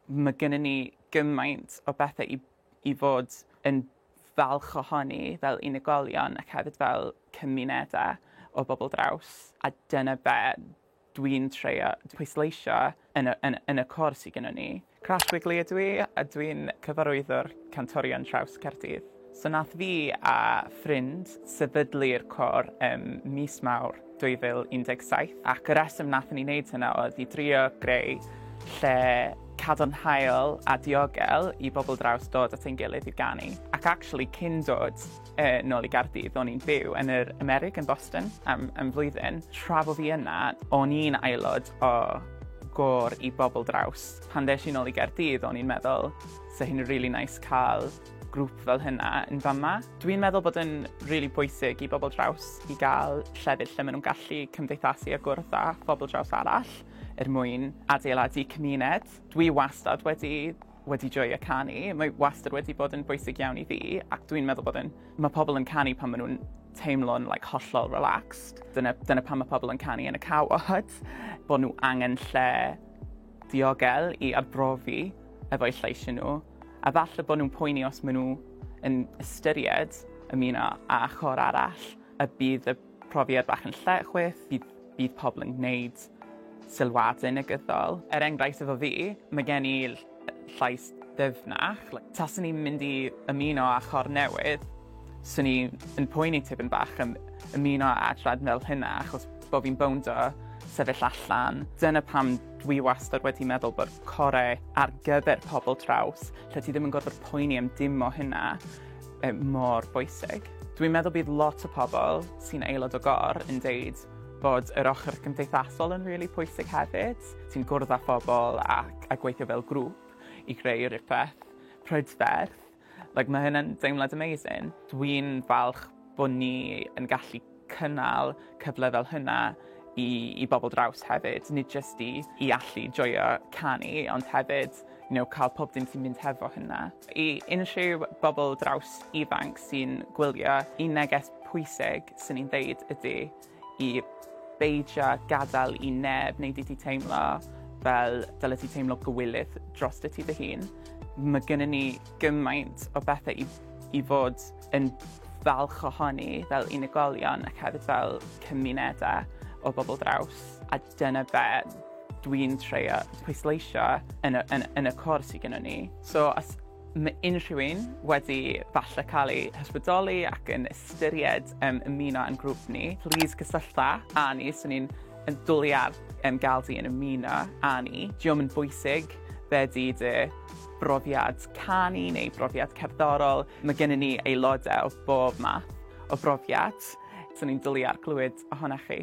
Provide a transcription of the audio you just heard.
Mae gennym ni gymaint o bethau i, i fod yn falch ohoni fel unigolion ac hefyd fel cymunedau o bobl draws. A dyna be dwi'n treio pwysleisio yn y, yn, yn y côr sydd gennym ni. Crash Wigley ydw i a dwi'n cyfarwyddwr Cantorion Traws Caerdydd. So wnaeth fi a ffrind sefydlu'r côr ym mis Mawrth 2017 ac y rheswm wnaethon ni wneud hynna oedd i drio greu lle cadarnhaol a diogel i bobl draws dod at ein gilydd i ganu. Ac actually cyn dod yy nôl i Gaerdydd o'n i'n byw yn yr Amerig yn Boston am am flwyddyn. Tra bo fi yna o'n i'n aelod o gôr i bobl draws. Pan ddes i nôl i Gaerdydd o'n i'n meddwl 'sa hyn yn rili neis ca'l grŵp fel hynna yn fama. Dwi'n meddwl bod yn rili really pwysig i bobl draws i gael llefydd lle maen nhw'n gallu cymdeithasu a gwrdd â phobl draws arall er mwyn adeiladu cymuned. Dwi wastad wedi wedi joio canu. Mae wastad wedi bod yn bwysig iawn i fi ac dwi'n meddwl bod yn... Mae pobl yn canu pan maen nhw'n teimlo'n like, hollol relaxed. Dyna, dyna pan mae pobl yn canu yn y cawod, bod nhw angen lle diogel i arbrofi efo'u lleisiau nhw. A falle bod nhw'n poeni os maen nhw yn ystyried ymuno â chor arall, y bydd y profiad bach yn lle chwith, bydd, bydd pobl yn gwneud sylwadau negyddol. Er enghraifft efo fi, mae gen i llais ddyfnach. Taswn i'n mynd i ymuno â chor newydd, swn i yn poeni tipyn bach am ymuno â adran fel hynna achos bod fi'n bownd o sefyll allan. Dyna pam Dwi wastad wedi meddwl bod core ar gyfer pobl traws, lle ti ddim yn gorfod poeni am dim o hynna, e, mor bwysig. Dwi'n meddwl bydd lot o pobl sy'n aelod o gor yn deud bod yr ochr gymdeithasol yn rili really pwysig hefyd. Ti'n gwrdd â phobl ac a gweithio fel grŵp i greu rhywbeth prydferth. Like mae hynna'n deimlad amazing. Dwi'n falch bod ni yn gallu cynnal cyfle fel hynna i i bobl draws hefyd, nid jyst i i allu joio canu ond hefyd you know cael pob dim sy'n mynd hefo hynna. I unrhyw bobl draws ifanc sy'n gwylio, un neges pwysig swn i'n deud ydi i beidio â gadael i neb wneud i ti teimlo fel dylet ti teimlo gywilydd drostyt ti dy hun. Mae gennym ni gymaint o bethau i, i fod yn falch ohoni fel unigolion ac hefyd fel cymunedau o bobl draws. A dyna be dwi'n treio pwysleisio yn y, yn, yn y cwrs sydd gennym ni. So, os Mae unrhyw un wedi falle cael ei hysbrydoli ac yn ystyried um, ymuno yn grŵp ni, please cysyllta â ni, so ni'n yn dwlu ar um, gael di yn ymuno â ni. Diolch yn bwysig be di dy brofiad canu neu brofiad cerddorol. Mae gennym ni aelodau o bob math o brofiad, so ni'n dwlu ar glywed ohonoch chi.